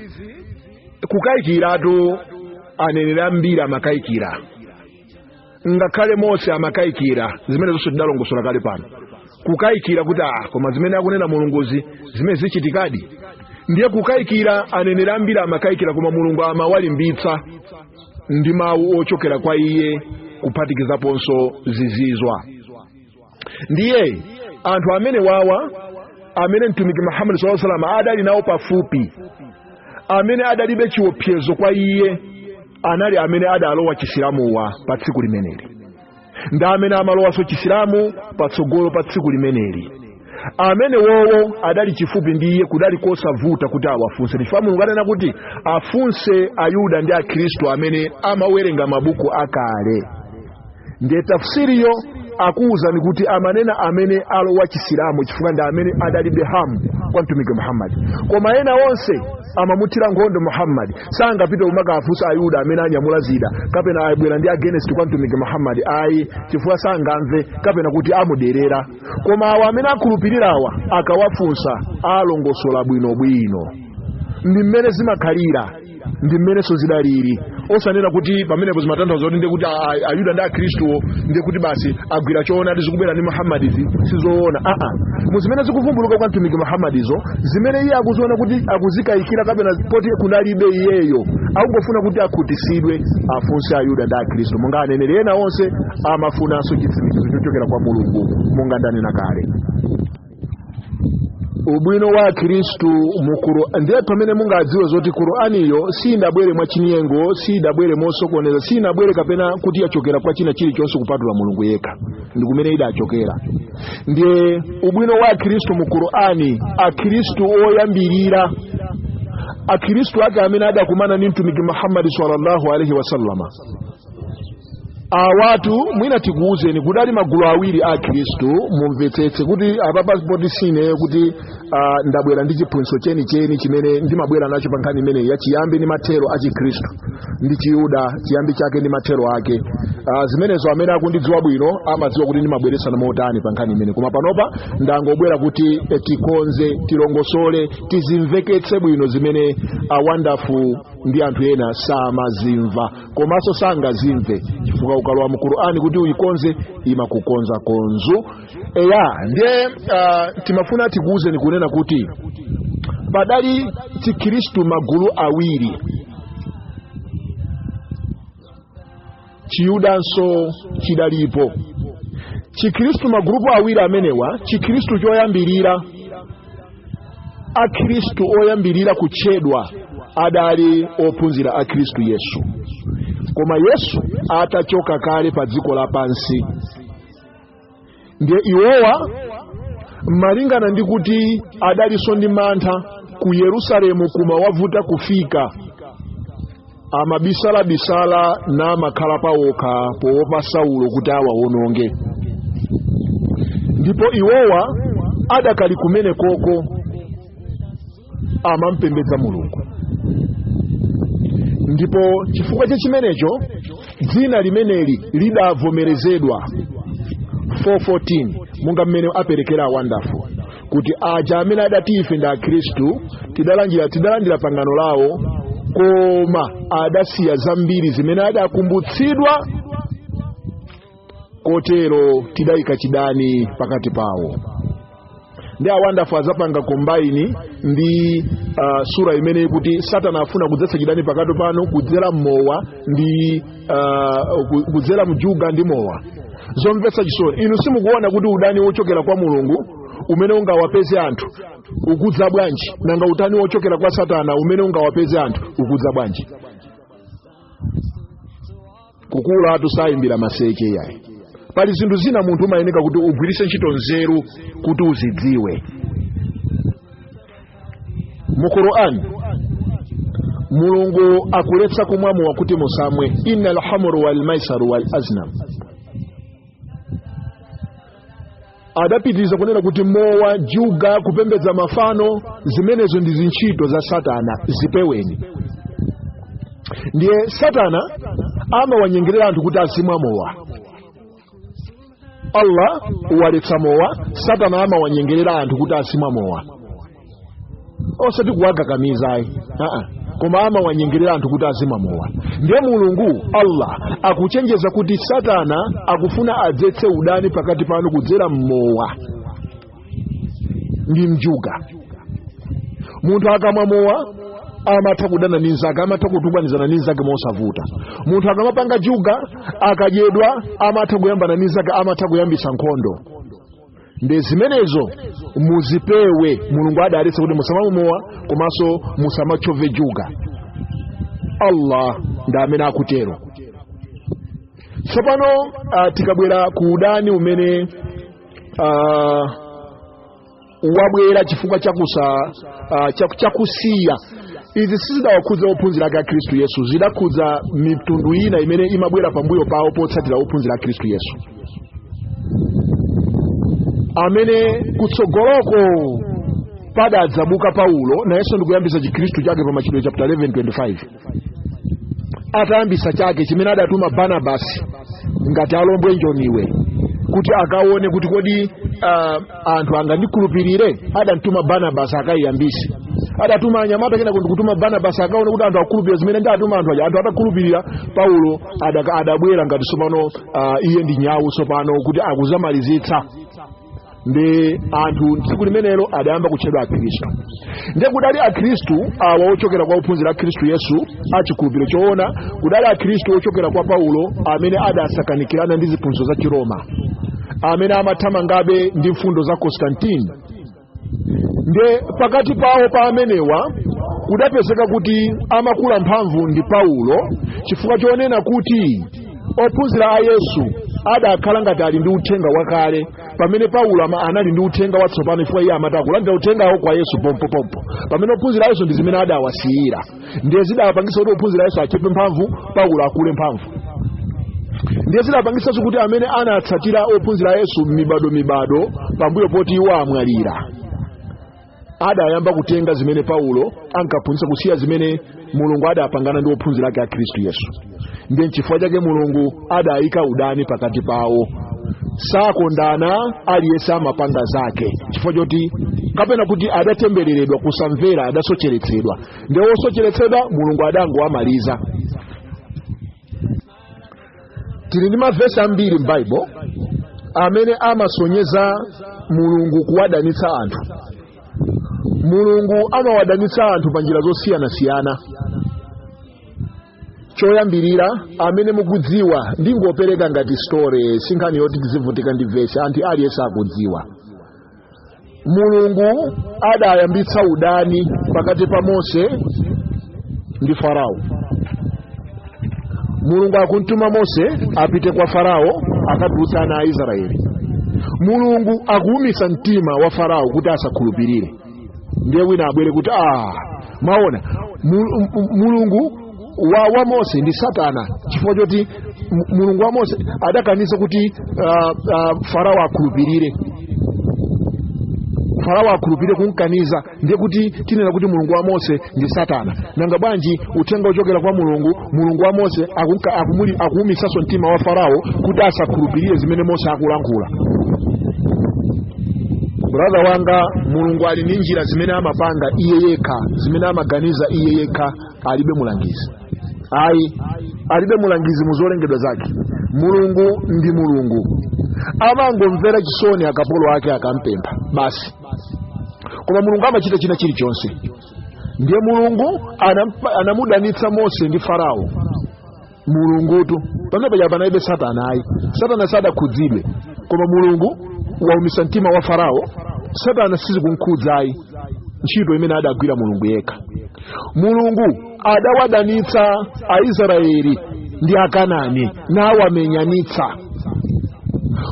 Speaker 1: kukayikiratu anenera ambiri amakayikira ngakhale mose amakayikira zimenezinso tidalongosola kale pano kukayikira kuti ah koma zimene akunena mulunguzi zimene zichitikadi ndiye kukayikira aneneri ambiri amakayikira koma mulungu amawalimbitsa ndi mawu ochokera kwa iye kuphatikizaponso zizizwa ndiye anthu amene wawa amene mtumiki muhammad salusalam adali nawo pafupi amene adalibe chiopsezo kwa iye anali amene adalowa chisilamuwa pa tsiku limeneli ndi amene amalowanso chisilamu patsogolo pa tsiku limeneli amene wowo adali chifupi ndi iye kudali kosavuta kuti awafunse chifukwa mulungu adanena kuti afunse ayuda ndi akhristu amene amawerenga mabuku akale ndiye tafsiriyo akuwuzani kuti amanena amene alowa chisilamu chifukwa ndi amene adalibe harm kwa mtumiki muhammadi koma ena onse amamuthira nkhondo muhammadi sangapite kumakafunsa ayuda amene anyamula zida kapena abwera ndi against kwa mtumiki muhammadi ayi chifukwa sangamve kapena kuti amuderera koma awa amene akhulupirirawa akawafunsa alongosola bwinobwino ndi mmene zimakhalira ndi mmenenso zidaliri osanena kuti pamenepo zimatanthauza kuti ndiye kuti a- a- ayuda ndi akhristuwo ndiye kuti basi agwira choonadi zikubwera ndi muhammadizi sizoona aa mu zimene zikuvumbuluka kwa mtumiki muhammadizo zimene iye akuziona kuti akuzikayikira kapena poti kunalibe iyeyo akungofuna kuti akhutitsidwe afunse ayuda ndi akhristu monga aneneri ena onse amafunanso chitsimikizo chochokera kwa mulungu monga ndanena kale ubwino wa akhristu mu Qur'an ndiye pamene mungadziwe zoti Qur'aniyo siyidabwere mwa chinyengo siyidabwere mosokoneza siyinabwere kapena kuti yachokera kwa china chilichonse kupatula mulungu yekha ndi kumene idachokera ndiye ubwino wa akhristu mu Qur'ani akhristu oyambirira akhristu ake amene adakumana ndi mtumiki muhammadi sallallahu alaihi wasallama awatu mwina tikuwuzeni kuti adali magulu awiri akhristu mumvetsetse kuti apapa poti sineyo kuti ah, ndabwera ndi chiphunzitso chenicheni chimene ndimabwera nacho pa nkhani imeneyi ya chiyambi ndi mathero a chikhristu ndi chiyuda chiyambi chake ndi mathero ake Ah, zimenezo amene akundidziwa bwino amadziwa kuti ndimabweretsana motani pa nkhani imeneyi koma panopa ndangobwera kuti eh, tikonze tilongosole tizimveketse bwino zimene a wonderful ndi anthu ena samazimva komanso sangazimve chifukwa ukalowa mu qur'ani kuti uyikonze imakukonza konzu eya ndiye uh, timafuna tikuwuzeni kunena kuti padali chikhristu magulu awiri chiyudanso chidalipo chikhristu magulupu awiri amenewa, chikhristu choyambirira akhristu oyambirira kutchedwa adali ophunzira a khristu yesu koma yesu atachoka kale pa dziko lapansi ndiye iwowa malingana ndi kuti adalinso ndi mantha ku yerusalemu kumawavuta kufika amabisalabisala namakhala pawokha poopa saulo kuti awawononge ndipo iwowa adakali kumene koko amampembedza mulungu ndipo chifukwa cha chimenecho dzina limeneli lidavomerezedwa 414 monga mmene aperekera awandafu kuti aja amene adati ife ndi akhristu tidalandira tidalandira pangano lawo koma adasiya zambiri zimene adakumbutsidwa kotero tidayika chidani pakati pawo ndi awandafu adzapanga kombaini ndi uh, sura imene ikuti satana afuna kudzetsa chidani pakati panu kudzera mmowa ndi ah, ku- kudzera mjuga ndi mowa zomvetsa chisoni inu simukuona kuti udani wochokera kwa mulungu umene ungawapeze anthu ukudza bwanji nanga udani wochokera kwa satana umene ungawapeze anthu ukudza bwanji kukulatu sayimbira maseche iyayi pali zinthu zina munthu umayeneka kuti ugwiritse ntchito nzeru kuti uzidziwe mu quran mulungu akuletsa kumwa mowa kuti musamwe inna alhamru walmaisaru walazlam adapitiriza kunena kuti mowa juga kupembedza mafano zimenezo ndi zintchito za satana zipeweni ndiye satana amawanyengerera anthu kuti azimwa mowa allah waletsa mowa satana amawanyengerera anthu kuti azimwa mowa osati kuwakakamiza ayi aa koma amawanyengerera anthu kuti azimwa mowa ndiye mulungu allah akuchenjeza kuti satana akufuna adzetse udani pakati panu kudzera mmowa ndi mjuga munthu akamwa mowa amatha kudana ndi nzake amatha kutukwanizana ndi nzake mosavuta munthu akamapanga juga akadyedwa amatha kuyambana ndi nzake amatha kuyambitsa nkhondo ndiye zimenezo muzipewe mulungu adaletsa kuti musamamwe mowa komanso musamatchove juga allah ndi amene akutero tsopano ah, tikabwera ku udani umene uh, wabwera chifukwa chakusa uh, chaku- chakusiya izi sizidawakhudza ophunzira ake a khristu yesu zidakhudza mitundu ina imene imabwera pambuyo pawo potsatira ophunzira a khristu yesu amene kutsogoloko padadzabuka paulo nayenso ndikuyambisa chikhristu chake pa machitidwe chapter 11 25 atayambisa chake chimene adatuma barnabasi ngati alombwe njoniwe kuti akaone kuti kodi uh, anthu angandikhulupirire adamtuma barnabasi akayiyambise adatuma anyamata kenaka ndi kutuma barnabasi akaone kuti anthu akhulupirira zimene ndatuma anthu aja anthu atakhulupirira paulo adaka- adabwera ngati tsopano uh, iye ndi nyawu tsopano kuti akazamalizitse ndi anthu tsiku limenelo adayamba kutchedwa akhristu ndiye kudali akhristu awa ochokera kwa ophunzira a khristu yesu a chikhulupiriro choona kudali akhristu ochokera kwa paulo amene adasakanikirana ndi ziphunzitso za chiroma amene amathamangabe ndi mfundo za constantine ndiye pakati pawo pa amenewa kudapezeka kuti amakula mphamvu ndi paulo chifukwa chonena kuti ophunzira a yesu adakhala ngati ali ndi uthenga wakale pamene paulo ama- anali ndi uthenga watsopano chifukwa iye amati akulandira uthengawo kwa yesu pompopompo pamene ophunzira a yesu ndi zimene adawasiyira ndiye zidawapangisa kuti ophunzira a yesu achepe mphamvu paulo akule mphamvu ndiye zidapangisanso kuti amene anatsatira ophunzira a yesu mibado mibado pambuyo poti iwo amwalira adayamba kutenga zimene paulo ankaphunzitsa kusiya zimene mulungu adapangana ndi ophunzira ake a khristu yesu ndiye nchifukwa chake mulungu adayika udani pakati pawo sakondana aliyense amapanga zake chifukwa choti kapena kuti adatembereredwa kusamvera adasocheretsedwa ndiye wosocheretsedwa mulungu adangowamaliza tili ndi mavesi ambiri m'Bible amene amasonyeza mulungu kuwadanitsa anthu mulungu amawadanitsa anthu pa njira zosiyanasiyana choyambirira amene mukudziwa ndingopereka ngati story sinkhani yoti tizivutika ndi vesi nkhani aliyense akudziwa mulungu adayambitsa udani pakati pa mose ndi farao mulungu akumtuma mose apite kwa farao akatulutse ana a israeli mulungu akuumitsa mtima wa farao kuti asakhulupirire ndiye wina abwere kuti ah mwaona Mul- m- mulungu wa, wa mose ndi satana chifukwa choti M- mulungu wa mose adakaniza kuti uh, uh, farao akhulupirire farao akhulupirire kumkaniza ndiye kuti tinena kuti mulungu wa mose ndi satana nanga bwanji uthenga ochokera kwa mulungu mulungu wa mose akumka- akumuli- akuumisanso mtima wa farao kuti asakhulupirire zimene mose akulankhula brother wanga mulungu ali ndi njira zimene amapanga iye yekha zimene amaganiza iye yekha alibe mulangizi ayi alibe mulangizi mu zolengedwa zake mulungu ndi mulungu amangomvera chisoni akapolo ake akampempha basi koma mulungu amachita china chilichonse ndiye mulungu anampa- anamudanitsa mose ndi farao mulungutu pamene paja panalibe satana ayi satana sadakhudzidwe koma mulungu waumitsa mtima wa farao satana sichikumkhudza ayi ntchito imene adagwira mulungu yekha mulungu adawadanitsa aisraeli ndi akanani nawamenyanitsa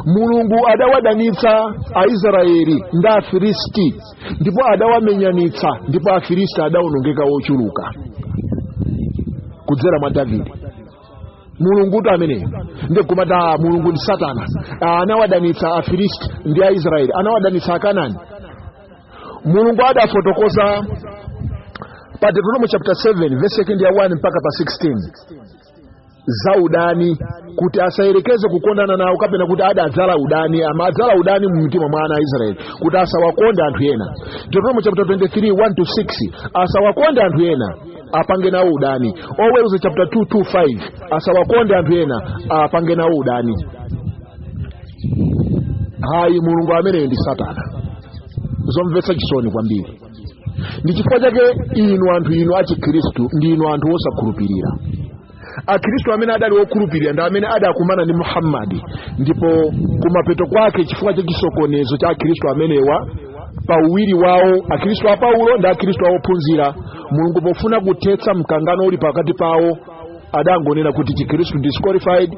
Speaker 1: mulungu adawadanitsa aisraeli ndi afilisti ndipo adawamenyanitsa ndipo afilisti adawonongeka wochuluka kudzera mwa davide mulungu uti ameneyo ndikumati a mulungu ndi satana Ah, anawadanitsa afilisti ndi aisraeli anawadanitsa akanani mulungu adafotokoza pa deuteronomo chapter 7 vesi yake ndi ya 1 mpaka pa 16 za udani kuti asayerekeze kukondana nawo kapena kuti adadzala udani amadzala udani mu mtima mwa ana a israeli kuti asawakonde anthu ena deuteronomo chapter 23 1 to 6 asawakonde anthu ena apange nawo udani oweruza chapter 2 2 5 asawakonde anthu ena apange nawo udani hayi mulungu ameneyi ndi satana zomvetsa chisoni kwambiri ndi chifukwa chake inu anthu inu achikhristu ndi inu anthu osakhulupirira akhristu amene adali okhulupirira ndi amene adakumana ndi muhammadi ndipo kumapeto kwake chifukwa cha chisokonezo cha akhristu amenewa pa uwiri wawo akhristu a paulo ndi akhristu a ophunzira mulungu pofuna kuthetsa mkangano uli pakati pawo adangonena kuti chikhristu disqualified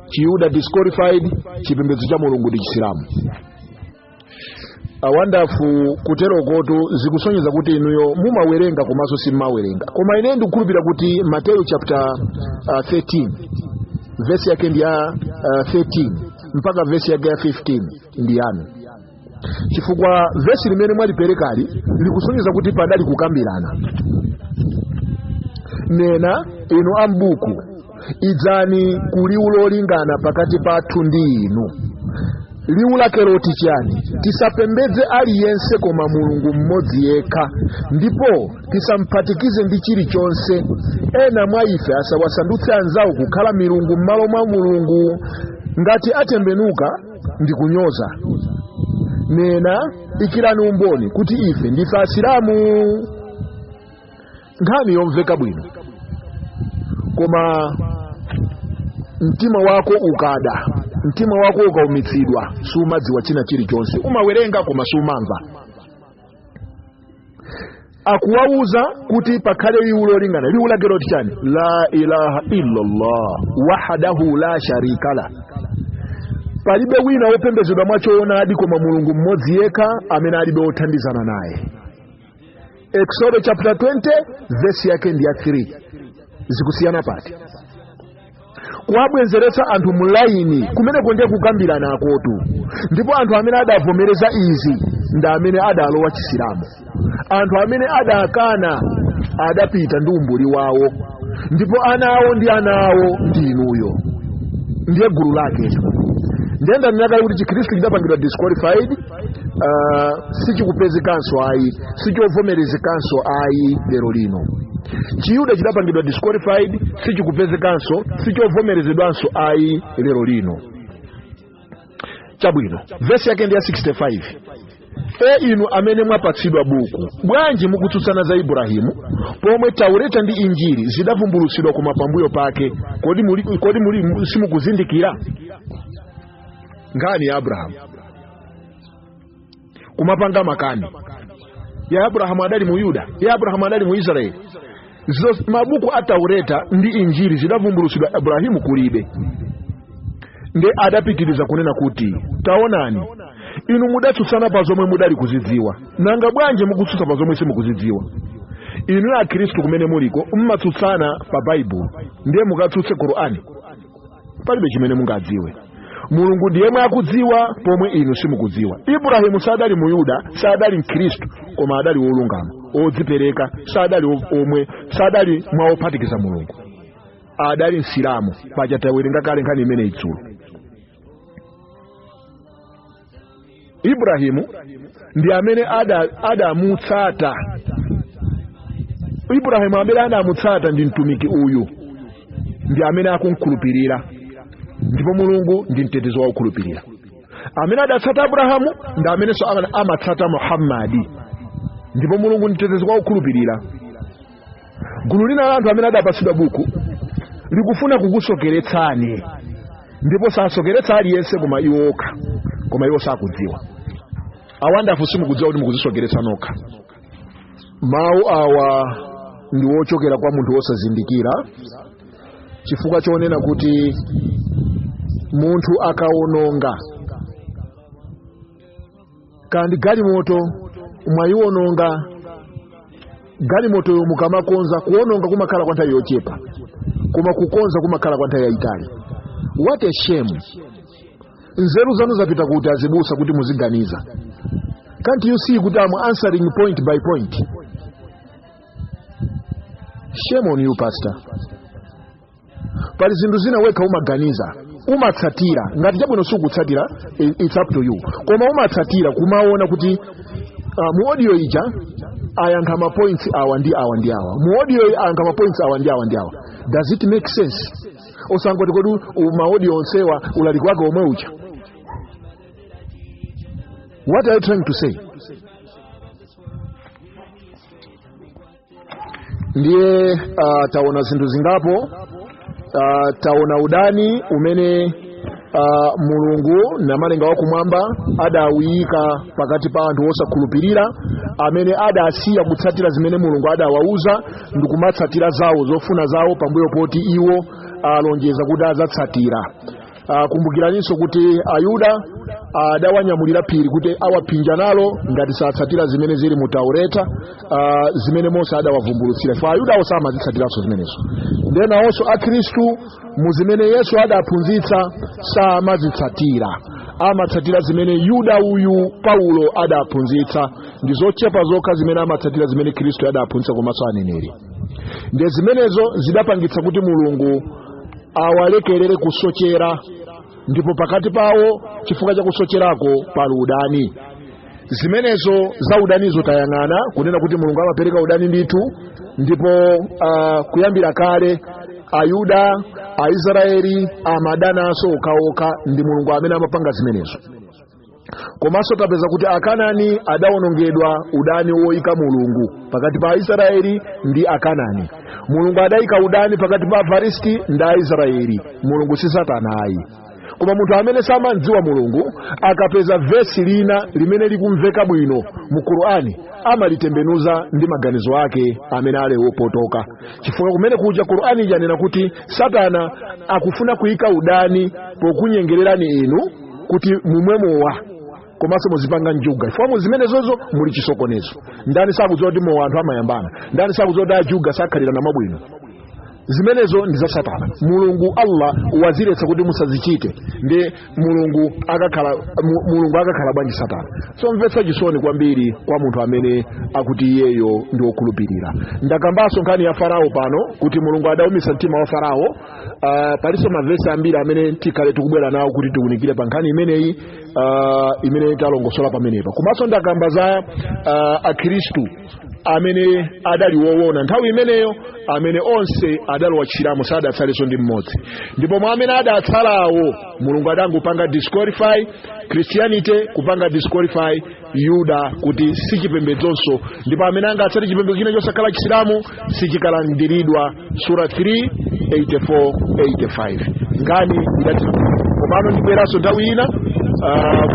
Speaker 1: chiyuda disqualified chipembedzo cha mulungu ndi chisilamu awandafu kuterokotu zikusonyeza kuti inuyo mumawerenga komanso simmawerenga koma ine ndikukhulupira kuti mateyu chapter uh, 13 vesi yake ndi ya uh, 13 mpaka vesi yake ya 15 ndi yanu chifukwa vesi limene mwaliperekali likusonyeza kuti padali kukambirana nena inu ambuku idzani ku liwu lolingana pakati pathu ndi inu liwu lake loti chiyani tisapembedze aliyense koma mulungu mmodzi yekha ndipo tisamphatikize ndi chilichonse ena mwa ife asawasandutse anzawo kukhala milungu m'malo mwa mulungu ngati atembenuka ndi kunyoza nena ikirani umboni kuti ife ndife asilamu nkhani yomveka bwino koma mtima wako ukada mtima wako ukaumitsidwa sumadziwa china chilichonse umawerenga koma sumamva akuwauza kuti pakhale liwu lolingana liwu lake loti chani la ilaha illallah wahdahu la sharika la palibe wina wopembezedwa mwachoonadi koma mulungu mmodzi yekha amene alibe wothandizana naye Exodo chapter 20 vesi yake ndi ya 3 zikusiyana pati kuwabwezeretsa anthu mu laini kumeneko ndiye kukambirana kwaketu ndipo anthu amene adavomereza izi ndi amene adalowa chisilamu anthu amene adakana adapita ndi umbuli wawo ndipo ana awo ndi ana awo ndi inuyo ndiye gulu laketu ndiye ndanena kale kuti chikhristu chidapangidwa disqualified uh, sichikupezekanso ayi sichovomerezekanso ayi lero lino chiyuda chidapangidwa disqualified sichikupezekanso sichovomerezedwanso ayi lero lino chabwino vesi yake ndi ya 65 e inu amene mwapatsidwa buku bwanji mukutsutsana za ibrahimu pomwe taureta ndi injiri zidavumbulutsidwa koma pambuyo pake kodi, muli, kodi muli, simukuzindikira nkhani ya abrahamu kumapanga makani ya abrahamu adali mu yuda ya abrahamu adali mu israeli Zos- mabuku a taureta ndi injili zidavumbulutsidwa abrahimu kulibe nde adapitiriza kunena kuti taonani inu mudatsutsana pa zomwe mudali kuzidziwa nanga bwanji mukutsutsa pa zomwe simukuzidziwa inu akhristu kumene muliko mmatsutsana pa baibulo ndiye mukatsutse korani palibe chimene mungadziwe mulungu ndi yemwe akudziwa pomwe inu simukudziwa ibrahimu sadali muyuda sadali mkhristu koma adali wolungama odzipereka sadali o- omwe sadali mwa ophatikiza mulungu adali msilamu paja tawerenga kale nkhani imeneyi idzulo ibrahimu ndi amene ada- adamutsata ibrahimu amene adamutsata ndi mtumiki uyu ndi amene akumkhulupirira ndipo mulungu ndi mtetezi wa okhulupirira amene adatsata abrahamu ndi amenenso ama- amatsata muhammadi ndipo mulungu ndi mtetezi wa okhulupirira gulu lina la anthu amene adapatsidwa buku likufuna kukusokeretsani ndipo sasokeretsa aliyense koma iwo okha koma iwo sakudziwa awandafu simukudziwa kuti mukudzisokeretsa nokha mawu awa ndi wochokera kwa munthu wosazindikira chifukwa chonena kuti munthu akawononga kaya ndi galimoto mwayiwononga galimotoyo mukamakonza kuwononga kumakhala kwa nthawi yochepa koma kukonza kumakhala kwa nthawi yayitali what a shame nzeru zanu zapita kuti azibusa kuti muziganiza can't you see kuti am answering point by point shame on you pastor pali zinthu zina wekha umaganiza umatsatira ngati chabwino sikutsatira i- it's up to you koma umatsatira kumaona kuti uh, mu audio ija ayankha ma points awa ndi awa ndi awa mu audio iyi ayankha ma points awa ndi awa ndi awa does it make sense osangoti kodi u- ma audio onsewa ulaliki wake omwe uja what are you trying to say ndiye uh, taona zinthu zingapo uh, taona udani umene uh, mulungu namalenga wakumwamba adawuyika pakati pa anthu osakhulupirira amene adasiya kutsatira zimene mulungu adawauza ndi kumatsatira zawo zofuna zawo pambuyo poti iwo alonjeza kuti adzatsatira Ah, kumbukiraninso kuti ayuda adawanyamulira phiri kuti awaphinja nalo ngati satsatira zimene zili mu taureta ah, zimene mose adawavumbulutsira chifukwa ayudawo samazitsatiranso zimenezo ndiye nawonso akhristu mu zimene yesu adaphunzitsa samazitsatira amatsatira zimene yuda uyu paulo adaphunzitsa ndi zochepa zokha zimene amatsatira zimene khristu adaphunzitsa komanso aneneri ndiye zimenezo zidapangitsa kuti mulungu awalekerere kusochera ndipo pakati pawo chifukwa cha kusocherako pali udani zimenezo za udanizo tayang'ana kunena kuti mulungu amapereka udani ndithu ndipo uh, kuyambira kale ayuda aisraeli amadananso okhaokha ndi mulungu amene amapanga zimenezo komanso tapeza kuti akanani adawonongedwa udani woyika mulungu pakati pa aisraeli ndi akanani mulungu adayika udani pakati pa afilisti ndi aisraeli mulungu si satana ayi koma munthu amene samamdziwa mulungu akapeza vesi lina limene likumveka bwino mu qur'ani amalitembenuza ndi maganizo ake amene ali wopotoka chifukwa kumene kuja qur'ani yanena kuti satana akufuna kuyika udani pokunyengererani inu kuti mumwe mowa komanso muzipanga njuga chifukwa mu zimenezozo muli chisokonezo ndani sakudziwa kuti mowa anthu amayambana ndani sakudziwa kuti ajuga sakhalirana mwabwino zimenezo ndi za satana mulungu allah waziletsa kuti musazichite ndi mulungu allah mulungu akakhala bwanji satana somvetsa chisoni kwambiri kwa munthu amene akuti iyeyo ndi wokhulupirira ndakambanso nkhani ya farao pano kuti mulungu adaumitsa mtima wa farao Uh, palinso mavesi ambiri amene tikhale tikubwera nawo kuti tiunikire pa nkhani imeneyi uh, imene talongosola pamenepa komanso ndakamba za uh, akhristu amene adali woona nthawi imeneyo amene onse adalowa Chisilamu sadatsalenso ndi mmodzi ndi pomwe mwa amene adatsalawo mulungu adangopanga disqualify christianity kupanga disqualify uyuda kuti si chipembedzonso ndipo amene angatsate chipembedzo china chosakhala chisilamu sichikalandiridwa sura 3 84 85 nkhani idati komano ndibweranso nthawi ina ah,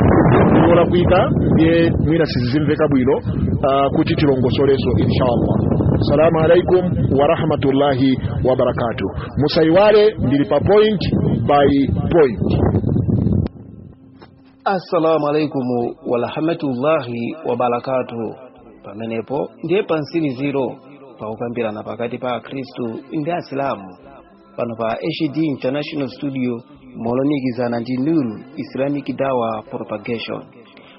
Speaker 1: yolakwika ndiye mwina sizikumveka bwino ah, kuti tilongosolenso inshallah assalamu alaikum warahmatullahi wabarakatuh musaiwale ndili pa point by point assalamu alaikum warahmatullahi wabarakatuhu pamenepo ndiye pamtsiriziro pakukambirana pakati pa akhristu ndi asilamu pano pa hd international studio molumikizana ndi nuru islamic dawa propagation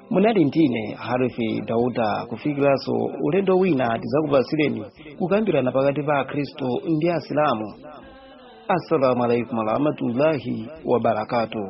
Speaker 1: munali ndine harifi dauda kufikiranso ulendo wina tizakupatsireni kukambirana pakati pa akhristu ndi asilamu assalamu alaikum warahmatullahi wabarakatuhu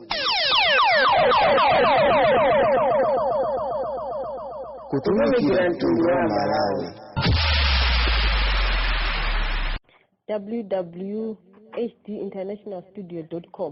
Speaker 1: kutumikira mtundu wa malawi www.hdinternationalstudio.com